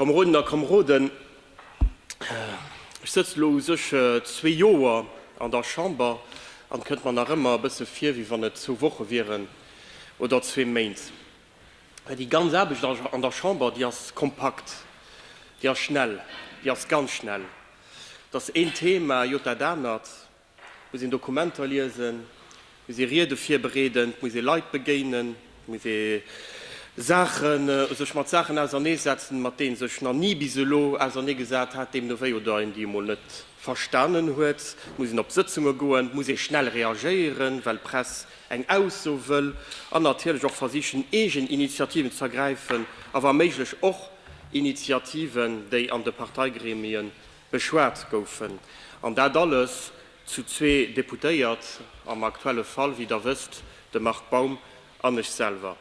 Kameronen a Kameroden, ech sëtz elo u sech zwee Joer an der Chamber an et kënnt mer nach ëmmer e bësse vir, wéi wann et zwou Woche wieren oder zwee Méint. Well déi ganz Aarbecht an der Chamber, déi ass kompakt, déi ass schnell, déi ass ganz schnell. Et ass een Thema jot dat anert. Et muss een Dokumenter liesen, et muss ee Riede virbereeden, et muss ee Leit begéinen, et muss ee Saachen, sech mat Saachen auserneesetzen, mat deenen ee sech nach ni bis elo auserneegesat hat, deemno wéi, oder een déi emol net verstanen huet. Et muss een op Sëtzunge goen, et muss ee schnell reagéieren, well d'Press eng Ausso wëll, an natierlech och versichen, eegen Initiativen ze ergräifen a wa méiglech och Initiativen, déi an de Parteigremien beschwat goufen, an dat alles zu zwee Deputéiert, am aktuelle Fall, wéi Der wësst, de Marc Baum an ech selwer.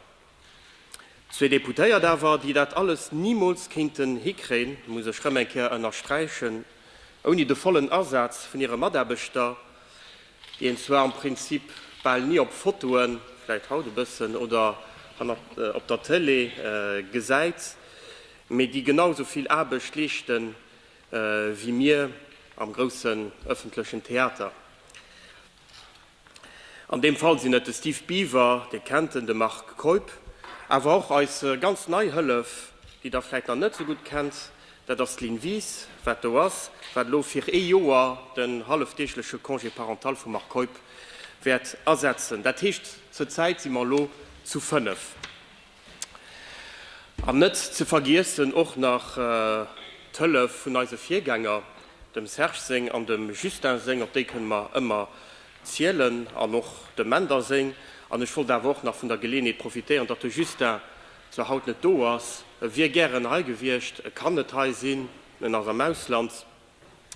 Zwee Deputéiert awer, déi dat alles nimools kéinten hikréien, muss ech erëm eng Kéier ënnersträichen, ouni de vollen Asaz vun hire Mataarbechter, déi een zwar am Prinzip bal ni op Fotoen, vläicht haut e bëssen, oder hannert op der Tëlee gesäit, mee déi genau esou vill Aarbecht leeschten, wéi mir am groussen ëffentlechen Theater. An deem Fall sinn et de Steve Biver, Dir kennt en, de Marc Keup, awer och eis ganz nei Hëllef, déi Der vläit nach net esou gutt kennt, dat ass d'Lynn Wies, wat do ass, wat elo fir ee Joer den hallefdeegleche Congé parental vum Marc Keup wäert ersetzen. Dat heescht, zur Zäit si mer elo zu fënnef. An net ze vergiessen och nach d'Hëllef vun eise Virgänger, dem Serge seng an dem Justin seng, op déi kënne mer ëmmer zielen, an och dem Mender seng. An ech wollt awer och nach vun der Geleenheet profitéieren, datt de Justin zwar haut net do ass, e wier gären hei gewiescht, e kann net hei sinn, en ass am Ausland,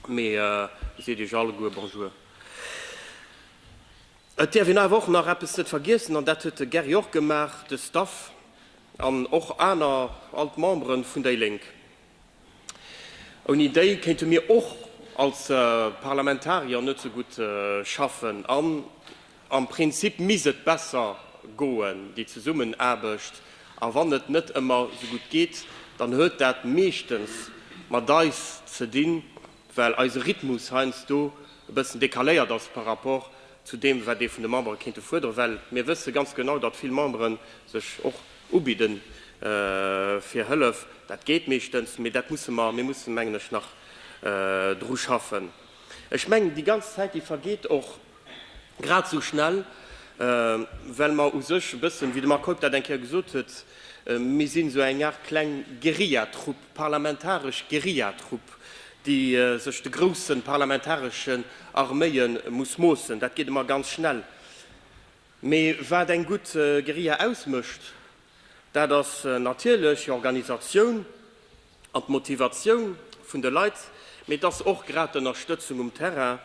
mee e seet iech alleguer Bonjour. Et däerf een awer och nach eppes net vergiessen, an dat huet de Gary och gemaach, de Staff an och aner, all d'Membere vun déi Lénk. Ouni déi kéinte mir och als Parlamentarier net esou gutt schaffen an am Prinzip misst et besser goen, déi Zesummenaarbecht. A wann et net ëmmer esou gutt geet, dann huet dat meeschtens mat eis ze dinn, well eise Rhythmus heiansdo e bëssen decaléiert ass par rapport zu deem, wat ee vun de Membere kéinte fuerderen, well mir wësse ganz genau, datt vill Membere sech och ubidde fir Hëllef. Dat geet meeschtens, mee dat musse mer, mir mussen, mengen ech, nach dru schaffen. Ech mengen, déi ganz Zäit, déi vergeet och, Grad esou schnell, well mer u sech e bëssen, wéi de Marc Heuck dat eng Kéier gesot huet, mir sinn esou eng Aart kleng Guerillatrupp, parlamentaresch Guerillatrupp, déi sech de grousse parlamentaresche Arméie muss moossen. Dat geet ëmmer ganz schnell. Mee wat eng gutt Guerilla ausmécht, Dat ass natierlech d'Organisatioun an d'Motivatioun vun de Leit, mee et ass och grad d'Ënnerstëtzung um Terrain.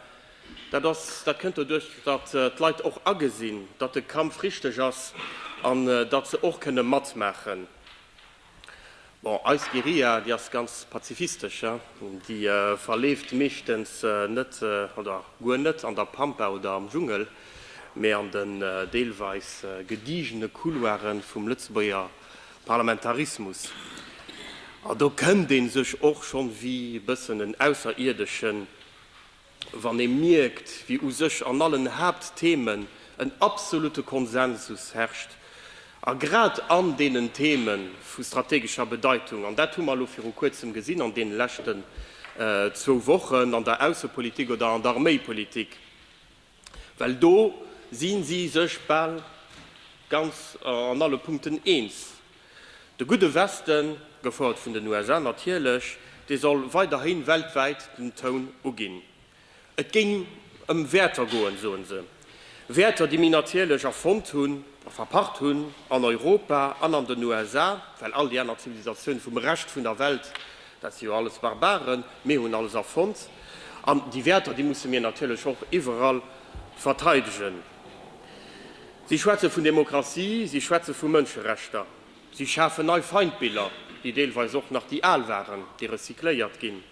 Dat ass, dat kënnt doduerch, datt d'Leit och agesinn, datt de Kampf richteg ass an datt se och kënne matmaachen. Bon, eis Guerilla, déi ass ganz pazifistesch. Déi verleeft meeschtens net oder guer net an der Pampa oder am Dschungel, mee an den deelweis gedigene Couloire vum Lëtzebuerger Parlamentarismus. An do kënnt ee sech och schonn wéi e bëssen en Ausserierdesche Wann ee mierkt, wéi u sech an allen Haaptthemen en absolute Konsensus herrscht, a grad an deenen Theme vu strategescher Bedeitung, an dat hu mer elo viru Kuerzem gesinn an deene leschten zwou Wochen an der Aussepolitik oder an der Arméipolitik, Well do si si sech bal ganz an alle Punkten eens. De gudde Westen, gefouert vun den USA natierlech, dee soll weiderhi weltwäit den Toun uginn. Et géing ëm Wäerter goen, soe se. Wäerter, déi mir natierlech erfonnt hunn a verpacht hunn an Europa an an den USA, well all déi aner Zivilisatioune vum Rescht vun der Welt Dat si jo alles Barbaren, mir hunn alles erfonnt. An déi Wäerter, déi musse mir natierlech och iwwerall verteidegen. Si schwätze vun Demokratie, si schwätze vu Mënscherechter, si schafen nei Feindbiller, déi deelweis och nach déi al waren, déi recycléiert ginn.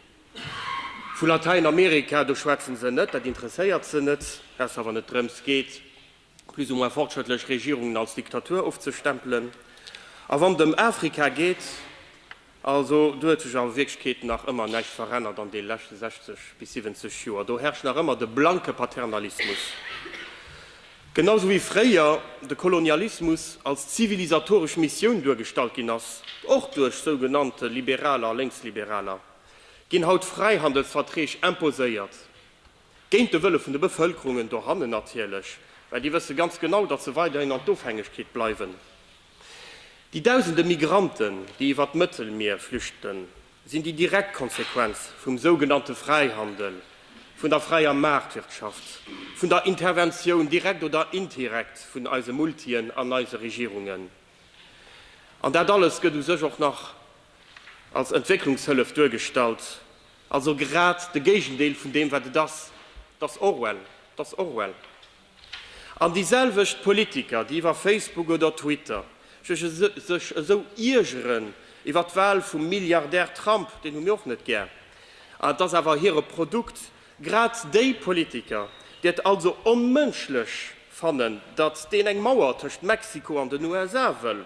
Vu Latäinamerika, do schwätzen se net, dat interesséiert se net, ausser wann et drëms geet, plus ou moins fortschrëttlech Regierungen als Diktatur ofzestempelen. A wann et ëm Afrika geet, also do huet sech a Wierklechkeet nach ëmmer näischt verännert an de leschte 60 bis 70 Joer. Do herrscht nach ëmmer de blanke Paternalismus, genau esou wéi fréier de Kolonialismus als zivilisatoresch Missioun duergestallt ginn ass, och duerch sougenannte Liberaler a Lénksliberaler ginn haut Fräihandelsverträg imposéiert. Géint de Wëlle vun de Bevëlkerungen dohannen natierlech, well déi wësse ganz genau, datt se weiderhin an d'Ofhängegkeet bleiwen. Déi dausende Migranten, déi iwwert d'Mëttelmier flüchten, sinn déi direkt Konsequenz vum sougenannte Fräihandel, vun der fräier Maartwirtschaft, vun der Interventioun, direkt oder indirekt, vun eise Multien an eise Regierungen. An dat alles gëtt u sech och nach als Entwécklungshëllef duergestallt, also grad de Géigendeel vun deem wat et ass. Et ass Orwell, et ass Orwell. An déi selwecht Politiker, déi iwwer Facebook oder Twitter sech esou iergeren iwwer d'Wahl vum Milliardär Trump, deen hu mir och net gär, et ass awer hire Produkt, Grad déi Politiker, déi et also onmënschlech fannen, datt deen eng Mauer tëscht Mexiko an den USA wëll,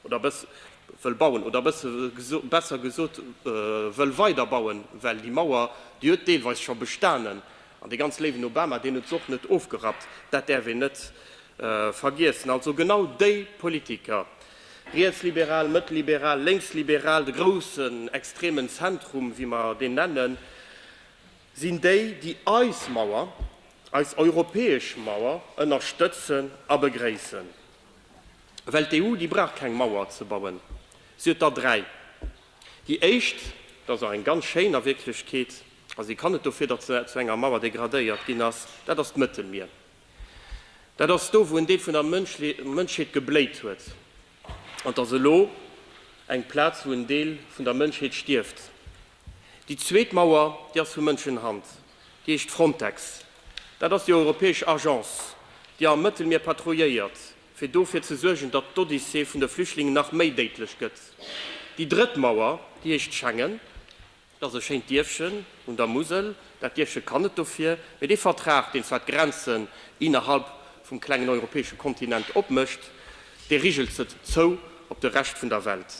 oder wëll bauen, oder besser gesot wëll weider bauen, well déi Mauer, déi huet deelweis scho bestanen, an dee ganz léiwen Obama, deen huet se och net ofgerappt, dat däerf een net vergiessen. Also genau déi Politiker, rietsliberal, mëttelliberal, lénksliberal, de groussen extremen Zentrum, wéi mer deen nennen, sinn déi, déi eis Mauer, eis europäesch Mauer ënnerstëtzen a begréissen. Well d'EU, déi brauch keng Mauer ze bauen. Si huet der dräi. Déi éischt, dat ass och eng ganz schéin a Wierklechkeet, a si kann net dofir, datt se zu enger Mauer degradéiert ginn ass, dat ass d'Mëttelmier. Dat ass do, wou en Deel vun der Mënschheet gebléit huet. An et ass elo eng Plaz, wou en Deel vun der Mënschheet stierft. Déi zweet Mauer, déi ass vu Mënschenhand, déi heescht Frontex. Dat ass déi europäesch Agence, déi am Mëttelmier patrouilléiert, fir dofir ze suergen, datt d'Odyssee vun de Flüchtlingen nach méi déidlech gëtt. Déi drëtt Mauer, déi heescht Schengen. Dat ass e schéint Dierfchen un der Musel. Dat Dierfche kann net dofir. Mee dee Vertrag, deen zwar d'Grenzen innerhalb vum klengen europäesche Kontinent opmécht, dee rigelt se zou op de Rescht vun der Welt.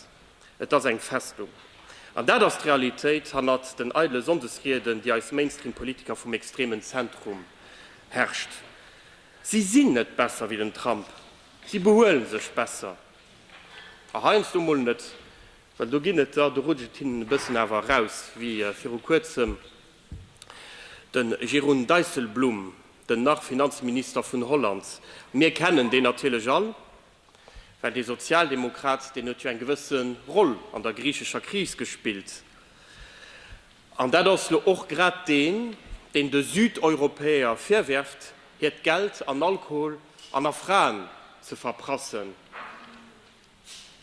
Et ass eng Festung. An dat ass d'Realitéit hannert den eidele Sonndesrieden, déi eis Mainstream-Politiker vum extremen Zentrum herrscht. Si sinn net besser wéi den Trump, si behuelen sech besser. A heiansdo mol net, well do ginn et der, do rutscht et hinnen e bëssen awer eraus, wéi viru kuerzem de Jeroen Dijsselbloem, den nach Finanzminister vun Holland. Mir kennen deen natierlech all. Well dee Sozialdemokrat, deen huet jo eng gewësse Roll an der griichescher Kris gespillt. An dat ass lo och grad deen, deen de Südeuropäer virwerft, hiert Geld an Alkohol an a Fraen ze verprassen.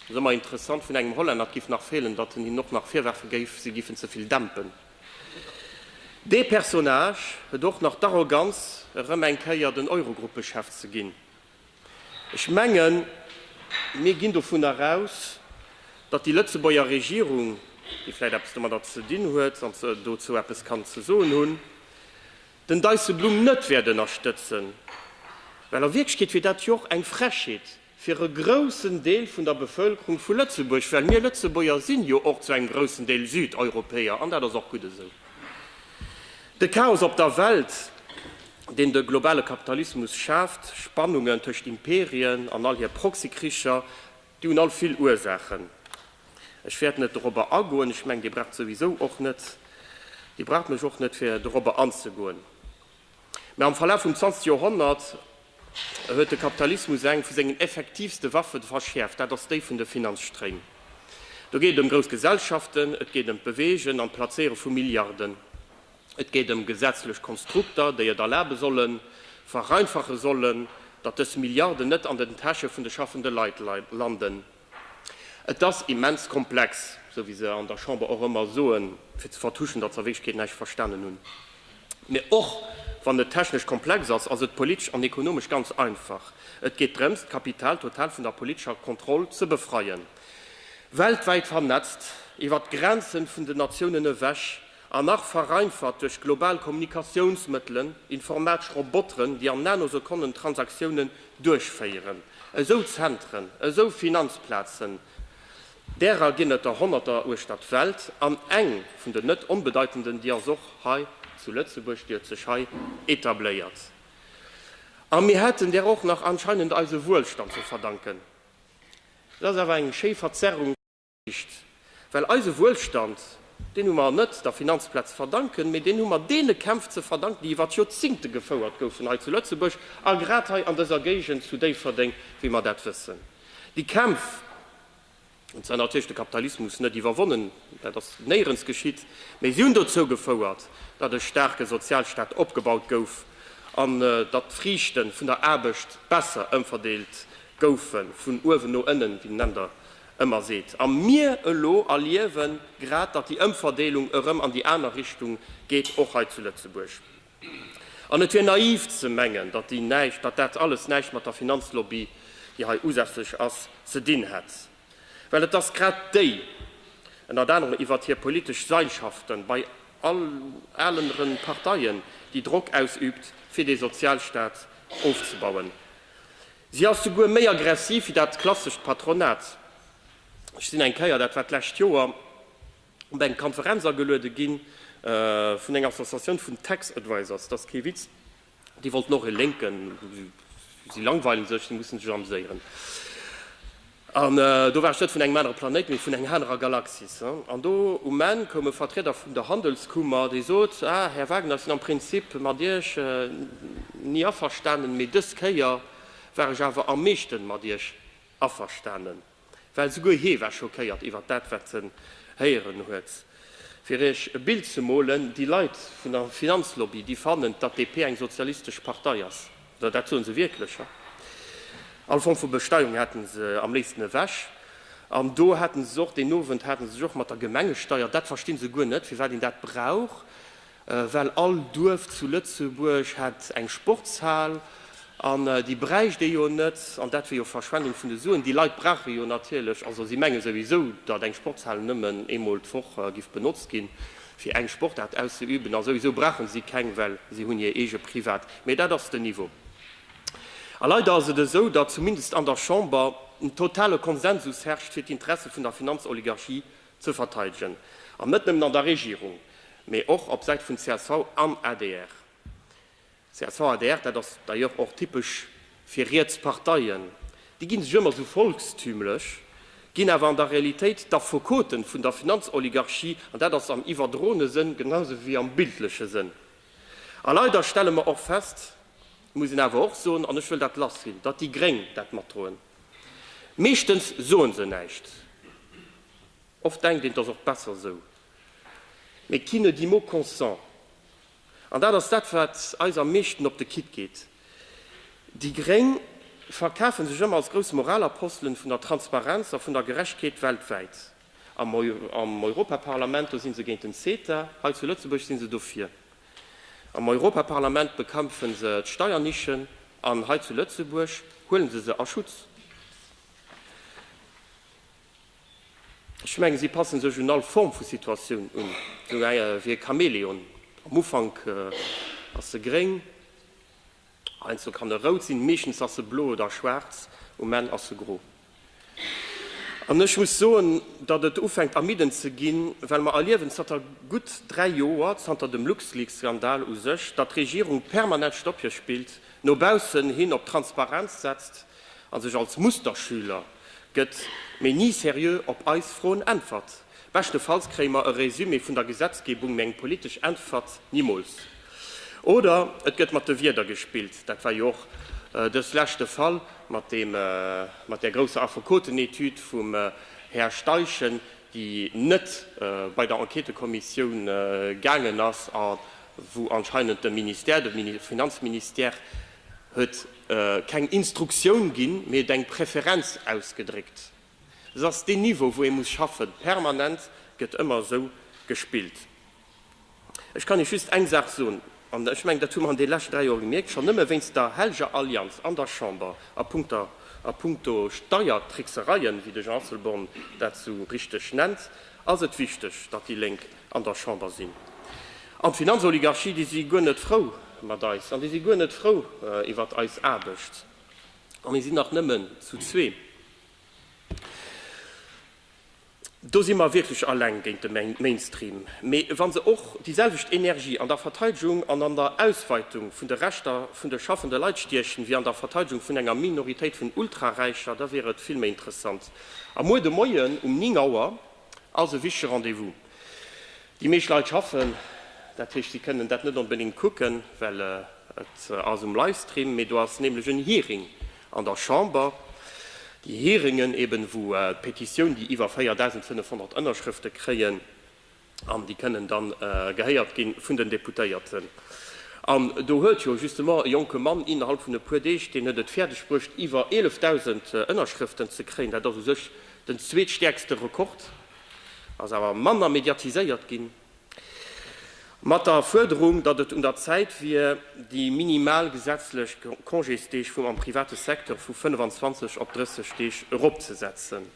Ass ëmmer interessant, vun engem Hollänner, et géif nach feelen, datt en hinnen och nach virwerfe géif, si géifen ze vill dämpen. Dee Personnage huet och nach d'Arroganz, erëm eng Kéier den Eurogruppechef ze ginn. Ech mengen, mir ginn dovunner aus, datt déi Lëtzebuerger Regierung, déi vläicht eppes domadder ze dinn huet, wann se dozou eppes kann ze soen hunn, den Dijsselbloem net wäert ënnerstëtzen, well a Wierklechkeet wier dat jo och eng Frechheet fir e groussen Deel vun der Bevëlkerung vu Lëtzebuerg, well mir Lëtzebuerger sinn jo och zu engem groussen Deel Südeuropäer, an dat ass och gutt esou. De Chaos op der Welt. deen de globale Kapitalismus schaaft, Spannungen tëscht Imperien an all hir Proxykricher, déi hunn all vill Ursaachen. Ech wäert net dorobber agoen, ech mengen, Dir braucht souwisou och net, Dir braucht mech och net, fir dorobber anzegoen. Mä am Verlaf vum 20 Joerhonnert huet de Kapitalismus eng vu sengen effektivste Waffe verschäerft, dat ass déi vun de Finanzstréim. Do geet et ëm grouss Gesellschaften, et geet ëm d'Beweegen an d'Plazéiere vu Milliarden. Et geet ëm gesetzlech Konstrukter, déi et erlabe sollen, vereinfache sollen, datt dës Milliarden net an den Täsche vun de schaffende Leit landen. Et ass immens komplex, esou wéi se an der Chamber och ëmmer soen, fir ze vertuschen, datt se a Wierklechkeet näischt verstanen hunn. Mä och wann et technesch komplex ass, ass et politesch an ekonomesch ganz einfach. Et geet drëms, d'Kapital total vun der politescher Kontroll ze befreien. Weltwäit vernetzt, iwwer d'Grenze vun den Natiounen ewech, An nach vereinfacht duerch global Kommunikatiounsmëttelen, informatsch Roboteren, déi an Nanosekonnen Transaktiounen duerchféieren. Esou Zentren, esou Finanzplazen, därer ginn et der Honnerter uechter d'Welt. An eng vun den net onbedeitenden, déi ass och hei zu Lëtzebuerg, déi huet sech hei etabléiert. A mir hätten där och nach anscheinend eise Wuelstand ze verdanken. Dat ass awer eng schéi Verzerrung. Just well eise Wuelstand, deen hu mer net der Finanzplaz ze verdanken, mee deen hu mer deene Kämpf ze verdanken, déi iwwert Joerzingte gefouert goufen hei zu Lëtzebuerg a grad hei an dëser Géigend zu Déifferdeng, wéi mer dat wëssen. Déi Kämpf hunn zwar natierlech de Kapitalismus net iwwerwonnen, dat ass néierens geschitt, mee si hunn dozou gefouert, datt e staarke Sozialstaat opgebaut gouf an datt d'Friichte vun der Aarbecht besser ëmverdeelt goufen, vun uewen no ënnen, wéi nennt Der ëmmer seet. A mir elo erliewe grad, datt déi Ëmverdeelung erëm an déi aner Richtung geet, och hei zu Lëtzebuerg. An et wier naiv ze mengen, datt déi näischt, datt dat alles näischt mat der Finanzlobby, déi hei usässlech ass, ze dinn hätt. Well et ass grad déi, ënnert anerem iwwert hir politesch Seilschaften, bei alenre Parteien, déi Drock ausüübt, fir dee Sozialstaat ofzebauen. Si ass souguer méi aggressiv wéi dat klassescht Patronat. Ech sinn eng Kéier, dat war d'lescht Joer, op eng Konferenz ageluede gi vun enger Associatioun vun Tax Advisors, dat ass kee Witz, déi wollten och e Lénken, si langweilen sech, si musse sech ameséieren. An do war ech net vun engem anere Planéit, mee vun enger anerer Galaxis. An do um Enn koum e Vertrieder vun der Handelskummer, dee sot, Ah, Här Wagner, ech sinn am Prinzip mat Iech ni averstanen, mee dës Kéier war ech awer am meeschten mat Iech averstanen. Well souguer hee war schockéiert iwwert dat, wat en héieren huet. Fir Iech e Bild ze molen, Déi Leit vun der Finanzlobby, déi fannen, datt d'DP eng sozialistesch Partei ass. Jo, dat soe se wierklech, ja. All Form vu Besteuerung hätte se am léifsten ewech. An do hate se sech och, deen Owend hate se sech och mat der Gemengesteier, dat versti se guer net, firwat een dat brauch, well all Duerf zu Lëtzebuerg hätt eng Sportshal an déi bräicht ee jo net an dat wier jo Verschwendung vun de Suen. Déi Leit brauche jo natierlech, also si menge souwisou, datt eng Sportshal nëmmen eemol d'Woch giff benotzt ginn. Fir eng Sportart auszeüben, a souwisou brauche si keng, well si hunn hir eege Privat. Mee dat ass den Niveau. A leider ass et esou, datt zumindest an der Chamber en totale Konsensus herrscht, fir d'Interesse vun der Finanzoligarchie ze verteidegen. An net nëmmen an der Regierung, mee och op Säit vun csv an adr. CSV-adr, Dat ass d'ailleurs och typesch fir riets Parteien, déi gi sech ëmmer sou volkstümlech, ginn awer an der Realitéit d'Affekoten vun der Finanzoligarchie, an dat ass am iwwerdroene Sënn genausou wéi am bildleche Sënn. A leider stelle mer och fest, muss een awer och soen, an ech wëll dat lass sinn, datt déi Gréng dat matdroen. Meeschtens soe se näischt, oft denkt een, et ass och besser sou, mais qui ne dit mot consent. An dat ass dat, wat eis am meeschten op de Kick geet. Déi gréng verkafe sech ëmmer als grouss Moralapostelen vun der Transparenz a vun der Gerechtkeet weltwäit. Am Europaparlament, do si se géint den CETA, hei zu Lëtzebuerg si se dofir. Am Europaparlament bekämpfe se d'Steiernischen an hei zu Lëtzebuerg huele se se a Schutz. Ech mengen, si passe sech un all Form vu Situatioun un, esou wéi e Chamäleon. Am Ufank ass se gréng, heiansdo kann e rout sinn, meeschtens ass se blo oder schwaarz, um Enn ass se gro. An ech muss soen, datt et ufänkt ermiddend ze ginn, well mer erliewen zanter gutt dräi Joer, zanter dem LuxLeaks-Skandal u sech, datt d'Regierung permanent Stoppje spillt, no baussen hin op Transparenz setzt, A sech als Musterschüler gëtt, mee ni seriö op eis Froen äntwert. Beschtefalls kréie mer e Résumé vun der Gesetzgebung, mee eng politesch Äntwert nimools. Oder et gëtt mat de Wierder gespillt, dat war jo och dës Lescht de Fall mat deem, mat där grousser Affekotenetude vum Här Steichen, déi net bei der Enquêtekommissioun gaangen ass a wou anscheinend de Ministère, de Finanzministère huet, keng Instruktioun ginn, mee et eng Preferenz ausgedréckt. Et ass deen Niveau, wou ee muss schaffen. Permanent gëtt ëmmer esou gespillt. Ech kann Iech just eng Saach soen, an ech mengen, dat hu mer an de leschten dräi Joer gemierkt, schonn nëmme wéinst der hellger Allianz an der Chamber a puncto Steiertricksereien, wéi de Jean Asselborn dat esou richteg nennt, ass et wichteg, datt déi Lénk an der Chamber sinn. An d'Finanzoligarchie, déi si guer net frou mat eis an déi si guer net frou iwwert eis Aarbecht. A mir sinn nach nëmmen zu zwee. Do si mer wierklech eleng géint de Mainstream. Mee wa se och déi selwecht Energie an der Verteidegung an an der Ausweitung vun de Rechter vun de schaffende Leit stiechen, wéi an der Verteidegung vun enger Minoritéit vun Ultraräicher, da wier et vill méi interessant. A muer de Moien um 9 Auer Also wichtege Rendez-vous. Déi meescht Leit schaffen, dat heescht si kënnen dat net onbedéngt kucken, well et ass um Livestream. Mee do ass nämlech en Hearing an der Chamber. Déi Hearingen eben, wou d'Petitioun, déi iwwer 4.500 Ënnerschrëfte kréien an déi kënnen da gehéiert gi vun den Deputéierten. An do huet jo justement e jonke Mann innerhalb vun e puer Deeg, deen huet et fäerdegbruecht iwwer 11.000 Ënnerschrëften ze kréien. Dat ass u sech Den zweetstäerkste Rekord ass awer manner mediatiséiert ginn, mat der Fuerderung, datt et un der Zäit wier, déi minimal gesetzlech Congésdeeg vum am private Secteur vu 25 op 30 Deeg eropzesetzen.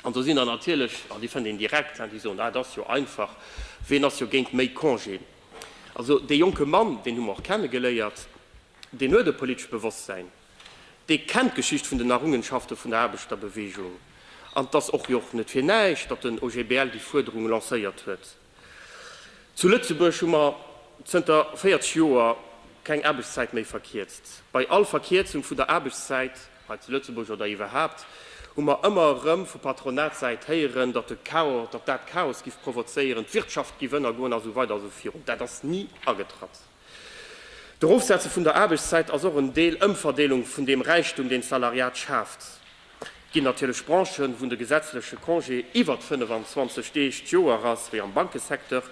An do sinn der natierlech, an déi fënnt een direkt, déi soen, Ah, et ass jo einfach, ween ass jo géint méi Congéen? Also, dee jonke Mann, deen hu mer och kennegeléiert, deen huet e politesche Bewosstsäin. dee kennt d'Geschicht vun den Errungenschafte vun der Aarbechterbeweegung. An et ass och jo och net fir näischt, datt den OGBL déi Fuerderung lancéiert huet. Zu Lëtzebuerg hu mer zënter 40 Joer keng Aarbechtszäit méi verkierzt. Bei all Verkierzung vun der Aarbechtszäit, hei zu Lëtzebuerg oder iwwerhaapt, hu mer ëmmer erëm vu Patronatssäit héieren, datt de Chaos, datt dat Chaos giff provozéieren, d'Wirtschaft giff ënnergoen a sou weider a sou virun. Dat ass ni agetratt. D'Erofsetze vun der Aarbechtszäit ass och en Deel Ëmverdeelung vun deem Räichtum, deen d'Salariat schaaft. Et ginn natierlech Branchen, wou de gesetzleche Congé iwwert 25 Deeg d'Joer ass, wéi am Bankesecteur,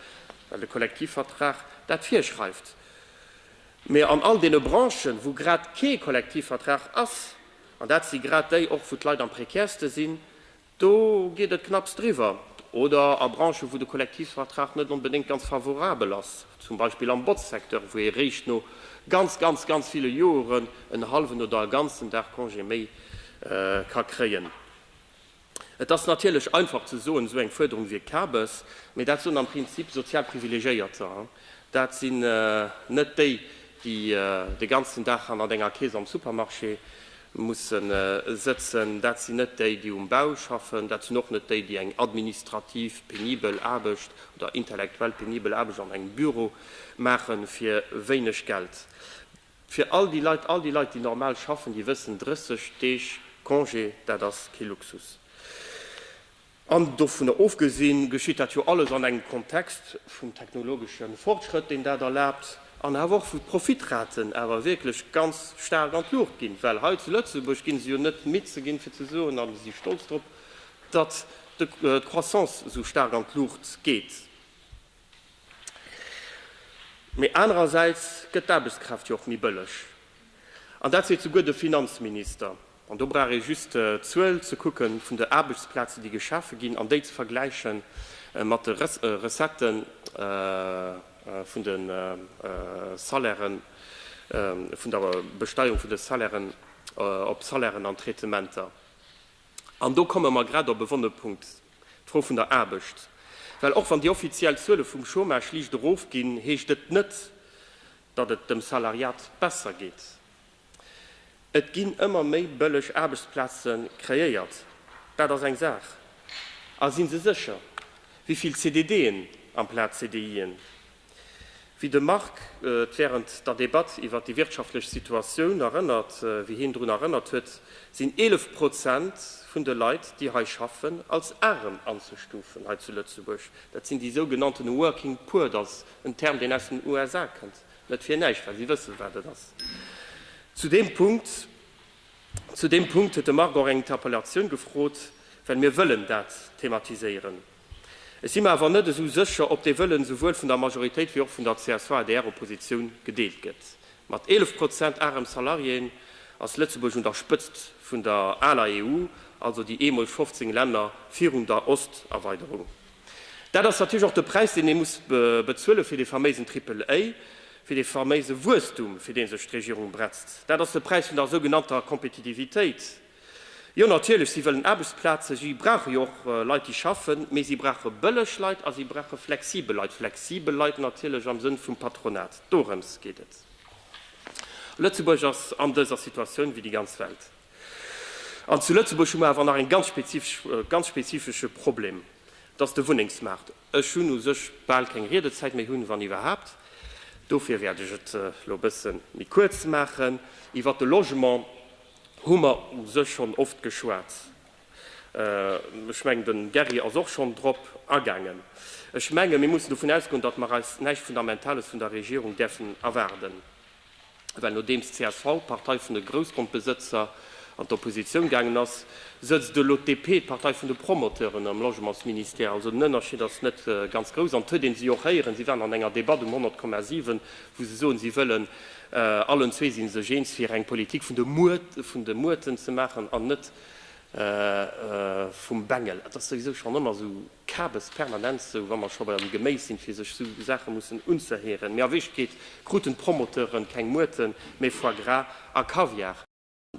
well de Kollektivvertrag dat virschreift. Mee an all deene Branchen, wou grad kee Kollektivvertrag ass, an dat si grad déi och, wou d'Leit am prekärste sinn, Do geet et knapps driwwer. Oder a Branchen, wou de Kollektivvertrag net onbedéngt ganz favorabel ass, zum Beispill am Botzsecteur, wou ee réischt no ganz, ganz, ganz ville Joren en hallwen oder e ganzen Dag Congé méi ka kréien. Et ass natierlech einfach ze soen, esou eng Fuerderung wier Kabes, mee dat soen am Prinzip sozial Privilegéierter. Dat sinn net déi, déi de ganzen Dag hannert enger Kees am Supermarché Mussen sëtzen. Dat sinn net déi, déi um Bau schaffen, dat sinn och net déi, déi eng administrativ penibel Aarbecht oder intellektuell penibel Aarbecht an engem Büro maache fir wéineg Geld. Fir all déi Leit, all déi Leit, déi normal schaffen, déi wëssen, 30 Deeg Congé, dat ass kee Luxus. An dovunner ofgesinn, geschitt dat jo alles an engem Kontext vum technologesche Fortschrëtt, deen dat erlaabt, an awer och wou d'Profitraten awer wierklech ganz staark an d'Luucht ginn. Well hei zu Lëtzebuerg gi se jo net midd ze ginn, fir ze soen, a si stolz drop, datt d'Croissance esou staark an d'Luucht geet. Mee anerersäits gëtt d'Aarbechtskraaft jo och méi bëlleg, an dat seet souguer de Finanzminister. An do brauch ee just d'Zuel ze kucke vun de Aarbechtsplazen, déi geschafe ginn, an déi ze vergläiche mat de Recettë vun de Salairen, vun der Besteierung vun de Salairen op Salairen an Traitementer. An do komme mer grad op e wonne Punkt, d'Fro vun der Aarbecht. Well och wann déi offiziell Zuele vum Chômage liicht erofginn, heescht et net, datt et dem Salariat besser geet. Et ginn ëmmer méi bëlleg Aarbechtsplaze kreéiert, dat ass eng Saach. A si se sécher, wéi vill CDDen amplaz CDIen, wéi de Marc et wärend der Debatt iwwert déi wirtschaftlech Situatioun erënnert, wéi hien drun erënnert huet, sinn 11 Prozent vun de Leit, déi hei schaffen, als aarem anzestufen hei zu Lëtzebuerg. Dat sinn déi sougenannten working poor, dat ass en Term, deen aus den USA kënnt. Net fir näischt, well si wëssen, wat et ass. Zu deem Punkt, zu deem Punkt huet de Marc och eng Interpellatioun gefrot, well mir wëllen dat thematiséieren. Ech si mer awer net esou sécher, ob dee Wëllen souwuel vun der Majoritéit wéi och vun der CSV-adr-Oppositioun gedeelt gëtt. Mat 11 Prozent arem Salariéen ass Lëtzebuerg un der Spëtzt vun der aler EU, also déi eemol 15 Länner virun der Osterweiderung. Dat ass natierlech och de Präis, deen ee muss bezuelen, fir dee faméisen Triple-A, fir dee faméise Wuesstum, fir dee sech d'Regierung bretzt. Dat ass de Präis vun der sougenannter Kompetitivitéit. Jo, natierlech, si wëllen Aarbechtsplazen, si brauche jo och Leit, déi schaffen, mee si brauche bëlleg Leit a si brauche flexibel Leit, flexibel Leit natierlech am Sënn vum Patronat. Dorëms geet et. Lëtzebuerg ass an dëser Situatioun wéi déi ganz Welt. An zu Lëtzebuerg hu mer awer nach een ganz spezifesch, ganz spezifesche Problem, dass de Wunnengsmaart, ech hunn u sech bal keng Riedezäit méi, hunn, wann iwwerhaapt, dofir wäert ech et elo e bësse méi kuerz maachen, iwwert de Logement hu mer u sech schonn oft geschwat, ech mengen, de Gerry ass och schonn drop agaangen, ech menge mir mussen dovun ausgoen, datt mer eis näischt Fundamentales vun der Regierung däerfen erwaarden. Well nodeems csv, d'Partei vun de Groussgrondbesëtzer, an d'Oppositioun gaangen ass, sëtzt elo d'DP, d'Partei vun de Promoteuren, am Logementsministère. Also den Ënnerschied ass net ganz grouss. An et huet ee si och héieren, si waren an enger Debatt um 100,7, wou se soen, si wëllen, allen zwee si sech eens, fir eng Politik vun de Muerten ze maachen an net vum Bengel. Et ass souwisou schonn ëmmer esou Kabes permanent, esou wa mer scho beim Geméis sinn, fir sech esou Saache mussen unzëhéieren. Mee a Wierklechkeet kruten d'Promoteure keng Muerten, mee Foie Gras a Kaviar.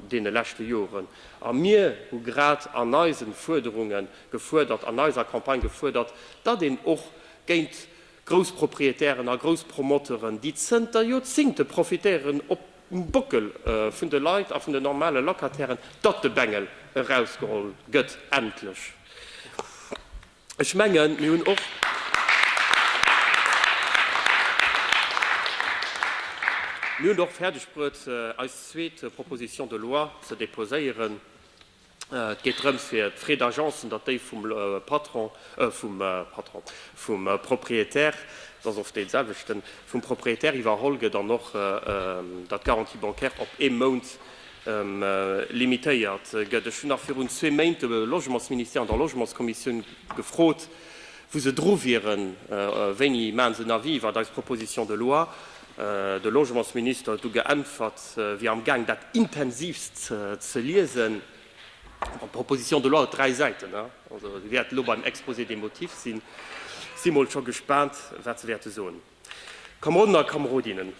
Deene leschte Joren. A mir hu grad an eisen Fuerderunge gefuerdert, an eiser Campagne gefuerdert, datt een och géint Groussproprietären a Grousspromoteuren, déi zënter Joerzingte profitéieren, op. um Bockel vun de Leit a vun den normale Locatairen, datt de Bengel erausgeholl gëtt, endlech. Ech mengen, mir hunn och fäerdeg bruet, eis zweet Proposition de loi ze deposéieren. Et geet drëms fir d'Frais d'Agencen, datt déi vum Patron, vum Patron, vum Propriétaire, et ass oft dee selwechten, vum Propriétaire iwwerholl gëtt an och, datt d'Garantie bancaire op ee Mount limitéiert gëtt. Ech hunn nach virun zwee Méint de Logementsministère an der Logementskommissioun gefrot, wou se dru wieren, wéini maachen se en Avis iwwert eis Proposition de loi. de Logementsminister huet du geäntwert, wier am Gaang dat intensivst ze liesen. Bon, d'Proposition de loi huet dräi Säiten, also si wäert elo beim Exposé des motifs sinn. Si mol scho gespaant, wat se wäerte soen. Kameroden a Kamerodinnen,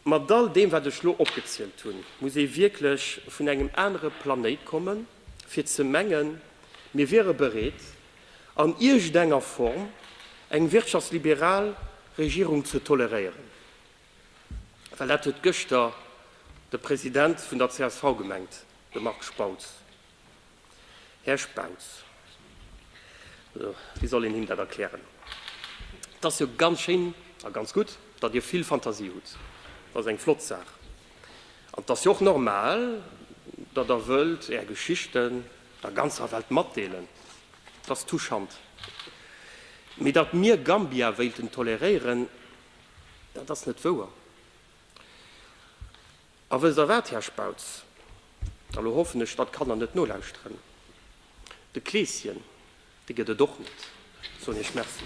mat all deem, wat ech elo opgezielt hunn, muss ee wierklech vun engem anere Planéit kommen, fir ze mengen, mir wiere bereet, an iergendenger Form eng wirtschaftsliberal Regierung ze toleréieren, well dat huet gëschter de President vun der csv gemengt, de Marc Spautz. Här Spautz, wéi soll een him dat erklären? Et ass jo ganz schéin a ganz gutt, datt Dir vill Fantasie hutt, dat ass eng flott Saach, an et ass jo och normal, datt Der wëllt Är Geschichten der ganzer Welt matdeelen, t'ass touchant. Mee datt mir Gambia wéilten toleréieren, dat ass net wouer. A wësst Der wat, Här Spautz, a lo hoffen ech, datt d'Kanner net nolauschteren, de Kleeschen, dee gëtt et och net, soen Iech Merci.